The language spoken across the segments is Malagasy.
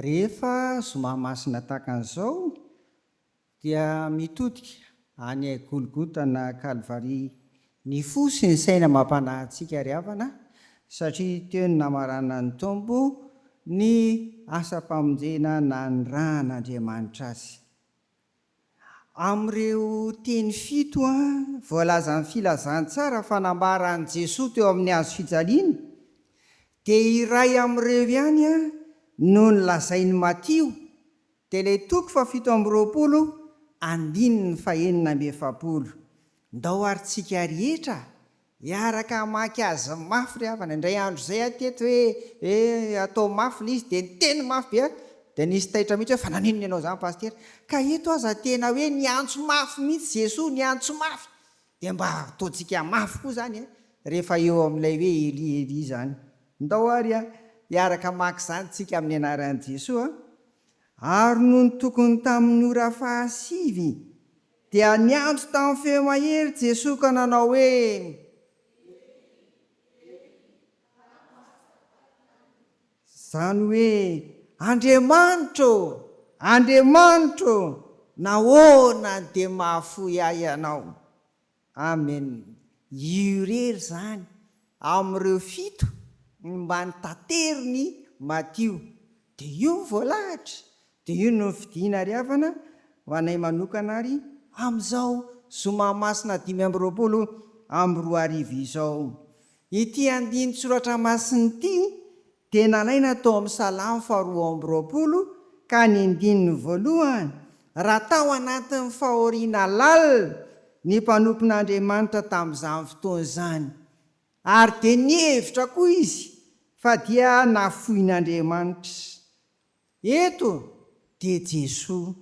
Rehefa zoma masina tahaka an'izao dia mitodika any Golgota na Kalvary ny fo sy ny saina mampanahy antsika ry havana satria teo no namaranan'ny Tompo ny asam-pamonjena nanirahan'Andriamanitra Azy. Amin'ireo teny fito voalazan'ny Filazantsara fa nambara an'i Jesoa teo amin'ny hazo fijaliana, dia iray amin'ireo ihany no nolazain'i Matio, dia ilay toko fahafito amby roapolo, andininy fahenina amby efapolo. Ndao ary tsika rehetra Miaraka hamaky azy mafy ry havana, indray andro izay aho teto hoe eh atao mafy ilay izy dia niteny mafy be aho, dia nisy taitra mihitsy hoe fa naninona ianao izany pasitera, ka eto aza tena hoe niantso mafy mihitsy Jesoa, niantso mafy, dia mba ataontsika mafy koa izany eh rehefa eo amin'ilay hoe Elie Elie izany. Ndao ary ah hiaraka hamaky izany tsika amin'ny anaran'i Jesoa ah. Ary nony tokony tamin'ny ora fahasivy. Dia niantso tamin'ny feo mahery Jesoa ka nanao hoe, Elỳ, Elỳ, lama sabaktany? Izany hoe, Andriamanitro ô! Andriamanitro ô! Nahoana no dia mahafoy ahy Ianao? Amen. Io irery izany amin'ireo fito ny mba ny taterin'i Matio. Dia io ny voalahatra, Dia io no fidina ary havana ho anay manokana ary amin'izao zoma masina dimy amby roapolo amby roa arivo izao. Ity andinin-tsoratra masina ity dia nalaina tao amin'ny Salamo faharoa amby roapolo ka ny andininy voalohany, Raha tao anatin'ny fahoriana lalina ny mpanompon'Andriamanitra tamin'izany fotoana izany, ary dia nihevitra koa izy fa dia nafoin'Andriamanitra. Eto dia Jesoa,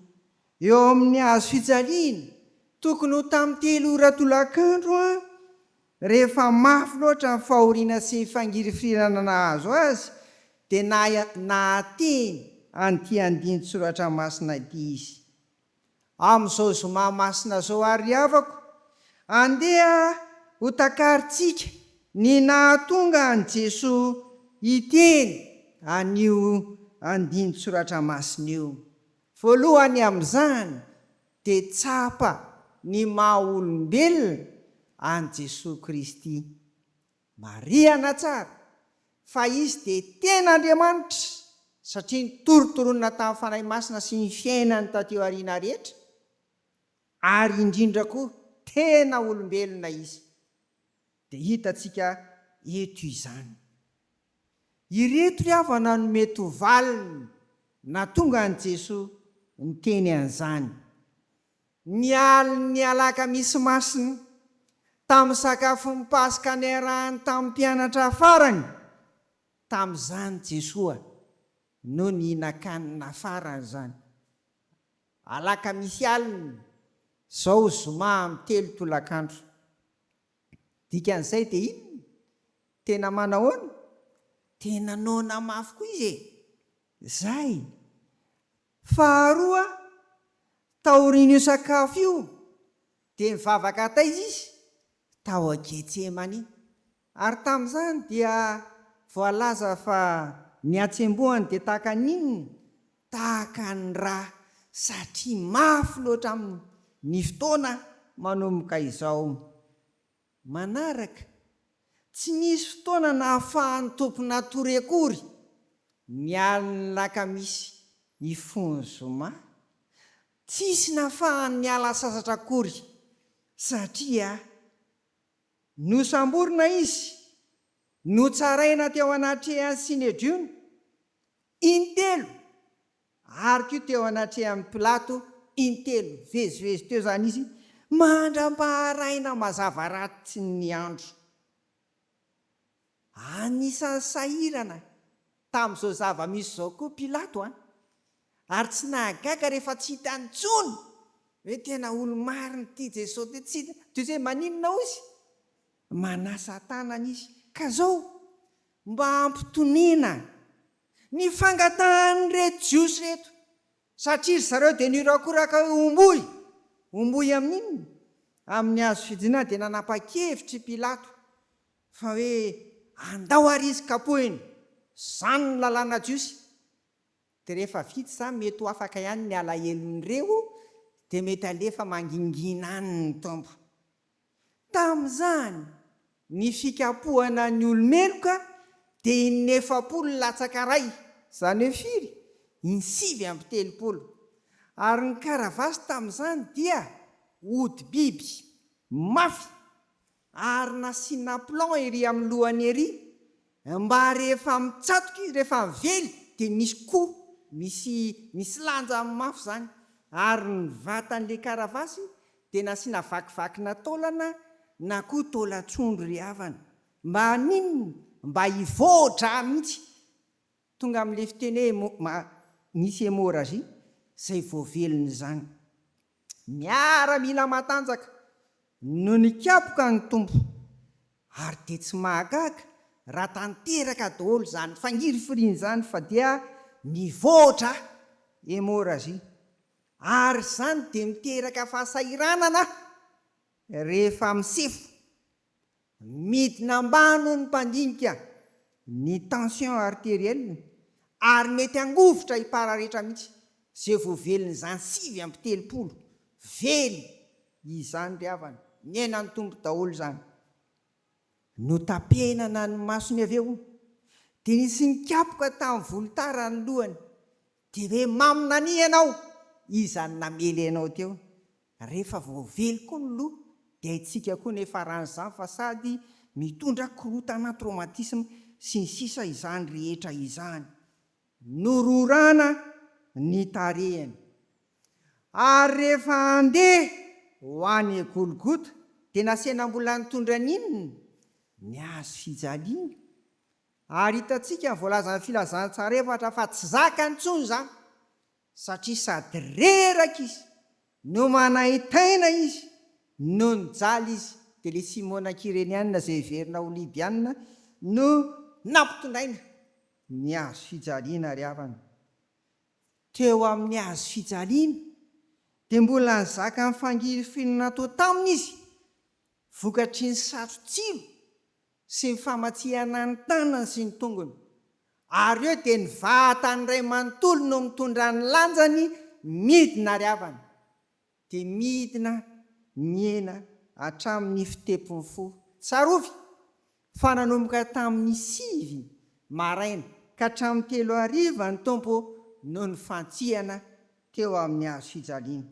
eo amin'ny hazo fijaliana, tokony ho tamin'ny telo ora tolakandro an! Rehefa mafy loatra ny fahoriana sy ny fangirifirirana nahazo azy dia nahateny an'ity andinin-tsoratra masina ity izy. Amin'izao zoma masina izao àry havako, andeha hotakarintsika ny nahatonga an'i Jesoa hiteny an'io andinin-tsoratra masina io. Voalohany amin'izany, dia tsapa ny maha-olombelona an'i Jesoa Kristy. Marihana tsara fa Izy dia tena Andriamanitra satria nitorotoronina tamin'ny Fanahy Masina sy ny fiainany taty aoriana rehetra, ary indrindra koa tena olombelona Izy, dia hitantsika eto izany. Ireto ry havana no mety ho valiny nahatonga an'i Jesoa niteny an'izany. Ny alin'ny alakamisy masina, tamin'ny sakafon'ny Paska niarahany tamin'ny mpianatra farany tamin'izany Jesoa no nihinan-kanina farany izany. Alakamisy alina, izao zoma amin'ny telo tolakandro. Dikan'izay dia inona? Tena manahoana? Tena noana mafy koa izy e! Izay! Faharoa, taorian'io sakafo io dia nivavaka taiza izy? Tao Getsemane. Ary tamin'izany dia voalaza fa ny hatsembohany dia tahaka ny inona? Tahaka ny ra, satria mafy loatra aminy ny fotoana manomboka izao. Manaraka, tsy nisy fotoana nahafahan'ny tompon'atory akory ny alin'ny lakamisy nifoha ny zoma. Tsisy nahafahany niala sasatra akory satria nosamborina izy, notsaraina teo anatrehan'ny Synedrion intelo Ary koa teo anatrehan'i Pilato in-telo vezivezy teo izany izy mandram-paharaina mazava rahatry ny andro. Anisan'ny sahirana tamin'izao zava-misy izao koa Pilato an! Ary tsy nahagaga rehefa tsy hita intsony hoe tena olo-marina ity Jesosy ity, tsy hita toy izay maninona hoy izy. Manasa tanana izy, ka izao, mba ampitoniana Ny fangatahan'ireto Jiosy ireto, satria ry zareo dia niorakoraka hoe homboy, homboy amin'inona? Amin'ny hazo fijinina dia nanapa-kevitra i Pilato fa hoe andao ary izy kapohina, izany ny lalàna jiosy. Dia rehefa vita izany mety ho afaka ihany ny alahelon'ireo dia mety halefa mangingina any ny Tompo. Tamin'izany, ny fikapohana ny olo-meloka dia inefapolo latsaka iray, izany hoe firy? insivy amby telopolo. Ary ny karavasy tamin'izany dia hodi-biby, mafy, ary nasiana plan ery amin'ny lohany ery, Mba rehefa mitsatoka izy rehefa avely dia misy ko misy misy lanja mafy zany ary ny vatan le karavasy dia nasiana vakivakina taolana na koa taolan-tsondro ry havana mba haninona mba hivoa-dra mihitsy. Tonga amin'ilay fiteny hoe ma, misy hémorragie izay voavelon'izany. Miaramila matanjaka no nikapoka ny Tompo, ary dia tsy mahagaga raha tanteraka daholo izany fangirifiriana izany fa dia mivoatra hémorragie. Ary izany dia miteraka fahasahiranana rehefa misefo Midina ambany hoy ny mpandinika ny tension arterielle ary mety hangovitra hipararetra mihitsy izay voavelin'izany sivy amby telopolo vely izany ry havana, ny ainan'ny Tompo daholo izany. Notapenana ny masony avy eo dia nisy nikapoka tamin'ny volotara ny lohany dia hoe, Maminania ianao, iza no namely anao teo? Rehefa voavely koa ny loha dia haintsika koa ny faran'izany fa sady mitondra korontana, traumatisme, sy ny sisa izany rehetra izany. Nororana ny tarehiny. Ary rehefa handeha ho any Golgota dia nasehina mbola nitondra ny inona? Ny hazo fijaliana. Ary hitantsika ny voalazan'ny Filazantsara efatra fa tsy zakany intsony izany. satria sady reraka izy no manaintaina izy no nijaly izy dia ilay Simona Kireniana izay heverina ho Libiana no nampitondraina ny hazo fijaliana ry havana. Teo amin'ny hazo fijaliana dia mbola nizaka ny fangirifiana natao taminy izy vokatry ny satrotsilo sy ny famatsihana ny tanany sy ny tongony, ary eo dia ny vatany iray manontolo no mitondra ny lanjany midina ary avana, dia midina mihena hatramin' ny fitepon' ny fo. Tsarovy fa nanomboka tamin' ny sivy maraina ka hatramin' ny telo hariva ny Tompo no nifantsihana teo amin' ny hazofijaliana.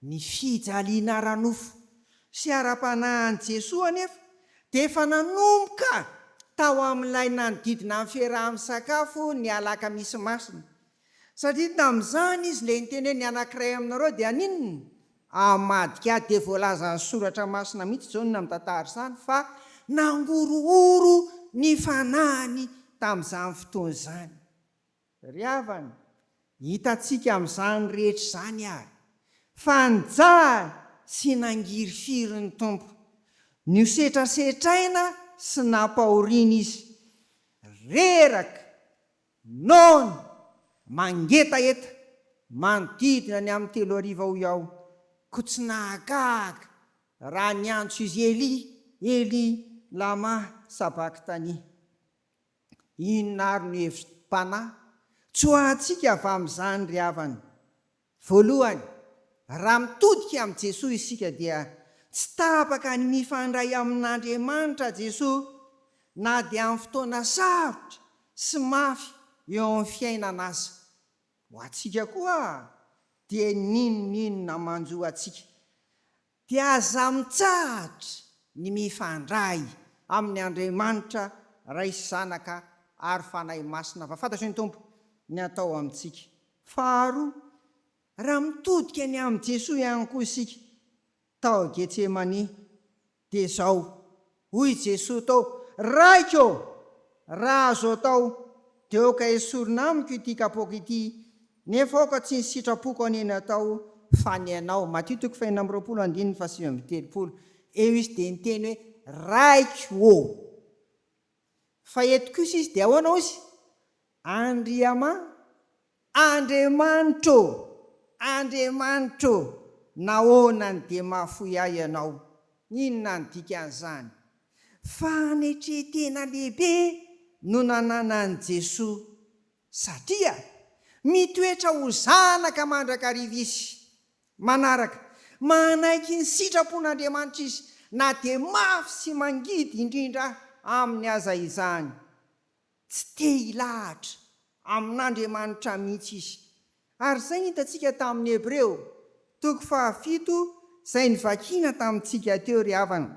Ny fijaliana ara-nofo sy ara-panahy an'i Jesoa anefa dia efa nanomboka tao amin'ilay nanodidina ny fiaraha-misakafo ny Alakamisy Masina, satria tamin'izany Izy ilay niteny hoe, Ny anankiray aminareo dia haninona? Amadika dia voalazan'ny Soratra Masina mihitsy Jaona mitantara izany fa nangorohoro ny fanahiny tamin'izany fotoana izany. Ry havana, hitantsika amin'izany rehetra izany àry fa nijaly sy nangirifiry ny Tompo. Nosetrasetraina sy nampahoriana izy. Reraka, noana, mangetaheta manodidina ny amin'ny telo hariva hoy aho, koa tsy nahagaga raha niantso izy Elia, Elia, lama sabaktania. Inona ary no hevim-panahy tsoahantsika avy amin'izany ry havana? Voalohany, raha mitodika amin'i Jesoa isika dia tsy tapaka ny mifandray amin'Andriamanitra Jesoa na dia amin'ny fotoana sarotra sy mafy eo amin'ny fiainana aza. Ho antsika koa dia n'inon'inona manjo antsika Dia aza mitsahatra ny mifandray amin' Andriamanitra Ray sy Zanaka ary Fanahy Masina fa fantatry ny Tompo ny atao amintsika. Faharoa, raha mitodika ny amin'i Jesoa ihany koa isika tao Getsemania dia izao Hoy i Jesoa tao, Raiko ô! Raha azo atao, dia aoka esorina amiko ity kapoaka ity, nefa aoka tsy ny sitrapoko anie no atao, fa ny Anao. Matio toko fahenina amby roapolo andininy fahasivy amby telopolo. Eo izy dia niteny hoe, Raiko ô! Fa eto kosa izy dia ahoana hozy? Andriama. Andriamanitro ô! Andriamanitro ô! Nahoana no dia mahafoy ahy Ianao? Inona no dikan'izany? Fanetren-tena lehibe no nananan'i Jesoa, satria mitoetra ho zanaka mandrakariva Izy. Manaraka, manaiky ny sitrapon'Andriamanitra Izy, na dia mafy sy mangidy indrindra aminy aza izany. Tsy te hilahatra amin'Andriamanitra mihitsy izy. Ary izay hitantsika tamin'ny Hebreo, toko fahafito, izay novakina tamintsika teo ry havana.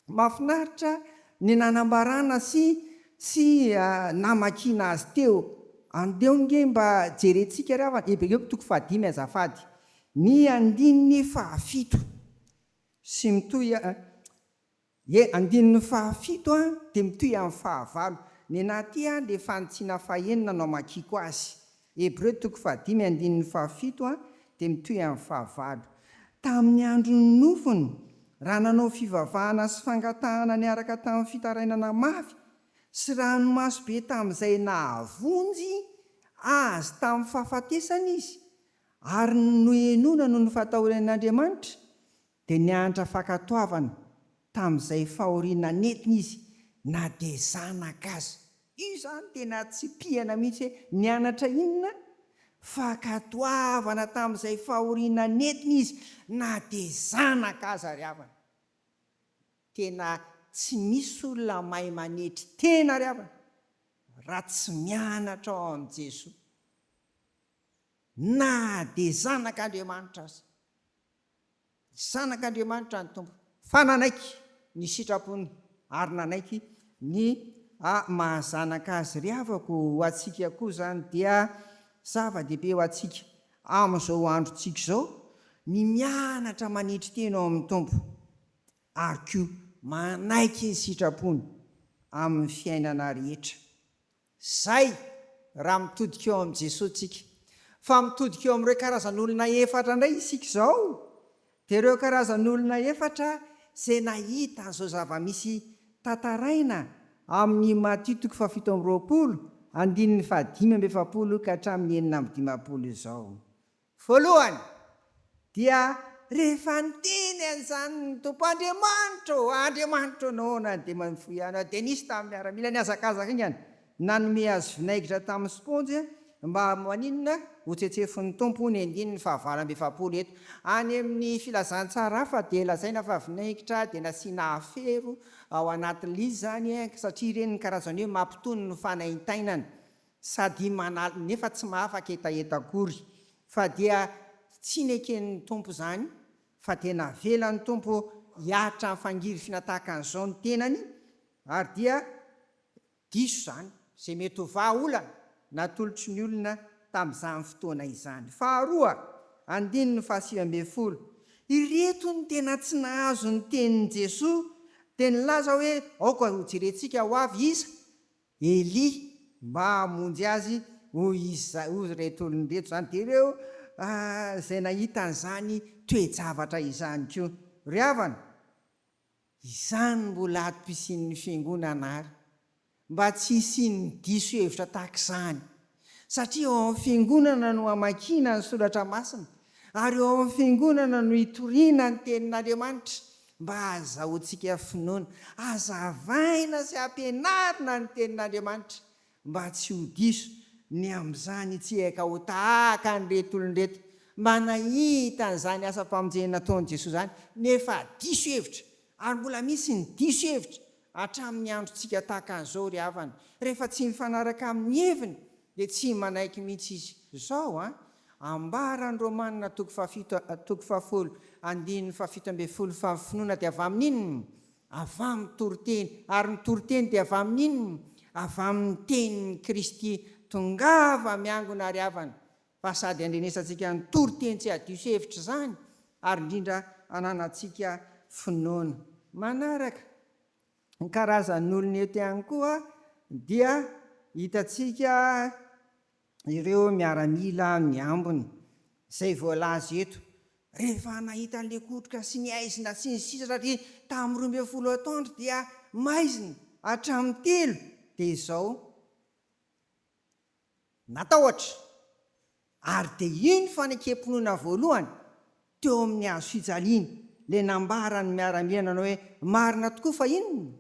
Mahafinaritra ny nanambarana sy sy namakiana azy teo. Andeo ange mba jerentsika ry havana Hebreo toko fahadimy azafady, ny andininy fahafito sy mitohy. Ie andininy faha fito a dia mitohy amin'ny faha valo. Nenaha ity a le fanitsiana faha enina no amakiako azy. Hebreo toko faha dimy andininy faha fito a dia mitohy amin'ny faha valo. Tamin'ny andron'ny nofony, raha nanao fivavahana sy fangatahana niaraka tamin'ny fitarainana mafy, sy ranomaso be tamin'izay nahavonjy Azy tamin'ny fahafatesana Izy, ary nohenoina noho ny fahatahoran'Andriamanitra, Dia nianatra fankatoavana tamin'izay fahoriana nentiny izy na dia zanaka aza. Io izany tena tsipihana mihitsy hoe nianatra inona? Fankatoavana tamin'izay fahoriana nentiny izy na dia zanaka aza ry havana. Tena tsy misy olona mahay manetry tena ry havana raha tsy mianatra ao amin'i Jesoa. Na dia zanak'Andriamanitra aza. Ny Zanak'Andriamanitra ny Tompo, fa nanaiky ny sitrapony ary nanaiky ny maha zanaka azy ry havako ô, ho antsika koa izany dia zava-dehibe ho antsika amin'izao androntsika izao ny mianatra manetry tena ao amin'ny Tompo ary koa manaiky ny sitrapony amin'ny fiainana rehetra. Izay, raha mitodika eo amin'i Jesoa tsika. Fa mitodika eo amin'ireo karazan'olona efatra indray isika izao, dia ireo karazan'olona efatra izay nahita an'izao zava-misy tantaraina amin'i Matio toko fahafito amby roapolo, andininy fahadimy amby efapolo ka hatramin'ny enina amby dimampolo izao. Voalohany, dia rehefa niteny an'izany ny Tompo Andriamanitra ô, Andriamanitro noana dia mifoy anao, dia nisy tamin'ny miaramila nihazakazaka iny an, nanome azy vinaigitra tamin'ny sponjy mba maninona ho tsetsefin'ny Tompo hono andininy fahavalo amby efapolo eto any amin'ny filazantsara hafa dia lazaina fa vinaigitra dia nasiana afero ao anatin'lizany satria ireny ny karazany hoe mampitony ny fanaintainana sady manal nefa tsy mahafaka hetaheta akory fa dia tsy neken'ny Tompo izany fa dia navelan'ny Tompo hiaritra amin'ny fangirifina tahaka an'izao ny tenany ary dia diso izany izay mety ho vaha olana natolotry ny olona tamin'izany fotoana izany. Faharoa, andininy fahasivy ambin'ny folo, ireto ny tena tsy nahazo ny tenin'i Jesoa dia nilaza hoe aoka hojerentsika ho avy iza Elia mba hamonjy azy, hoy izy, hoy ireto olon-dreto izany, dia ireo izay nahita an'izany toe-javatra izany koa. Ry havana, izany mbola atom-pisian'ny Fiangonana àry, mba tsy hisian'ny diso hevitra tahaka izany. satria ao amin'ny Fiangonana no amakiana ny Soratra Masina ary ao amin'ny Fiangonana no itoriana ny Tenin'Andriamanitra mba hahazahoantsika finoana. Hazavaina sy ampianarina ny Tenin'Andriamanitra mba tsy ho diso ny amin'izany hitsiaka ho tahaka an'ireto olona ireto mba nahita an'izany asam-pamonjena nataon'i Jesoa izany nefa diso hevitra ary mbola misy ny diso hevitra Hatramin'ny androntsika tahaka an'izao ry havana, rehefa tsy mifanaraka amin'ny heviny dia tsy manaiky mihitsy izy. Izao an, ambaran'ny Romana toko fahafito toko fahafolo andininy fahafito ambin'ny folo fa ny finoana dia avy amin'ny inona? Avy amin'ny toriteny, ary ny toriteny dia avy amin'ny inona? Avy amin'ny tenin'i Kristy. Tongava miangona ry havana, fa sady handrenesantsika hanontolo teny tsy hadiso hevitra izany ary indrindra hananantsika finoana. Manaraka ny karazan'olona eto ihany koa dia hitantsika ireo miaramila amin'ny ambiny izay voalaza eto, rehefa nahita ny lekotroka sy ny aizina sy ny sisa satria tamin'ny roa ambin'ny folo Août dia maizina hatramin'ny telo dia izao natahotra, ary dia iny fanekem-pinoana voalohany teo amin'ny hazo fijaliana ilay nambaran'ny miaramila nanao hoe, Marina tokoa fa inona?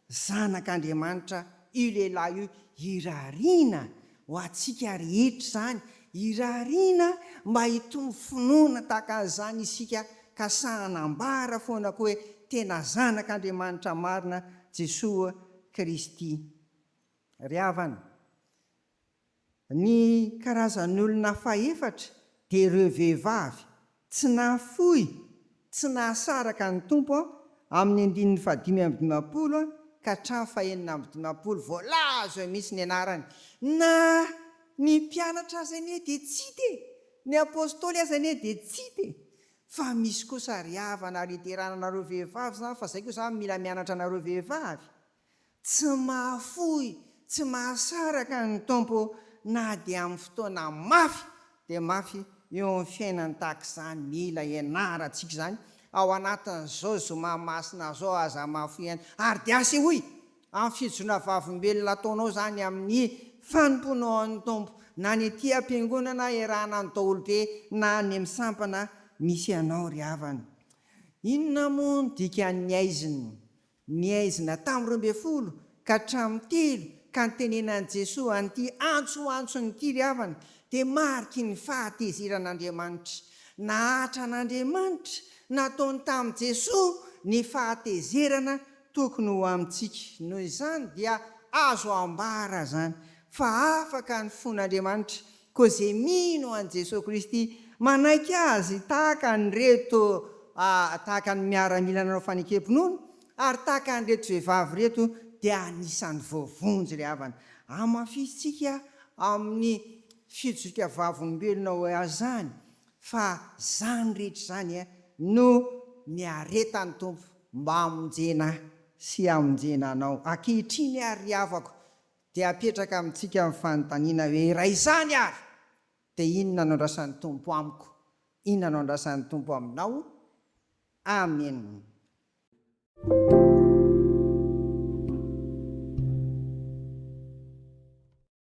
Zanak'Andriamanitra io lehilahy io, irariana ho antsika rehetra izany, irariana mba hitombo finoana tahaka an'izany isika ka sahy hanambara foana koa hoe, Tena Zanak'Andriamanitra marina Jesoa Kristy. Ry havana, ny karazan'olona fahefatra dia ireo vehivavy tsy nahafoy, tsy nahasaraka ny Tompo amin'ny andininy fahadimy amby dimampolo ka hatramin'ny fahenina amby dimampolo voalaza eo mihitsy ny anarany. Na ny mpianatra aza anie dia tsy hita e! Ny apostoly aza anie dia tsy hita e! Fa misy kosa ry havana ary hiderana anareo vehivavy izany fa izay koa izany mila mianatra anareo vehivavy. Tsy mahafoy, tsy mahasaraka ny Tompo na dia amin'ny fotoana mafy dia mafy eo amin'ny fiainany tahaka izany mila hianarantsika izany ao anatin'izao zoma masina izao aza mahafoy ihany ary dia asehoy amin'ny fijona vavolombelona ataonao izany amin'ny fanompoanao an'ny Tompo na ny aty am-piangonana iarahana ny daholobe na any amin'ny sampana misy anao ry havana. Inona moa no dikan'ny aizina? Ny haizina tamin'ny roa ambin'ny folo ka hatramin'ny telo ka nitenenan'i Jesoa an'ity antso antson'ity ry havana dia mariky ny fahatezeran'Andriamanitra. Nahatra an'Andriamanitra nataony tamin'i Jesoa ny fahatezerana tokony ho amintsika. Noho izany dia azo ambara izany fa afaka ny fon'Andriamanitra Koa izay mino an'i Jesoa Kristy manaiky Azy tahaka an'ireto tahaka ny miaramila nanao fanekem-pinoana ary tahaka an'ireto vehivavy ireto dia anisan'ny voavonjy ry havana. Hamafisintsika amin'ny fijoroka vavolombelona ho Azy izany fa izany rehetra izany no niaretan'ny Tompo mba hamonjena sy hamonjena anao ankehitriny ary ry havako Dia apetraka amintsika ny fanontaniana hoe raha izany ary dia inona no andrasan'ny Tompo amiko? Inona no andrasan'ny Tompo aminao? Amen.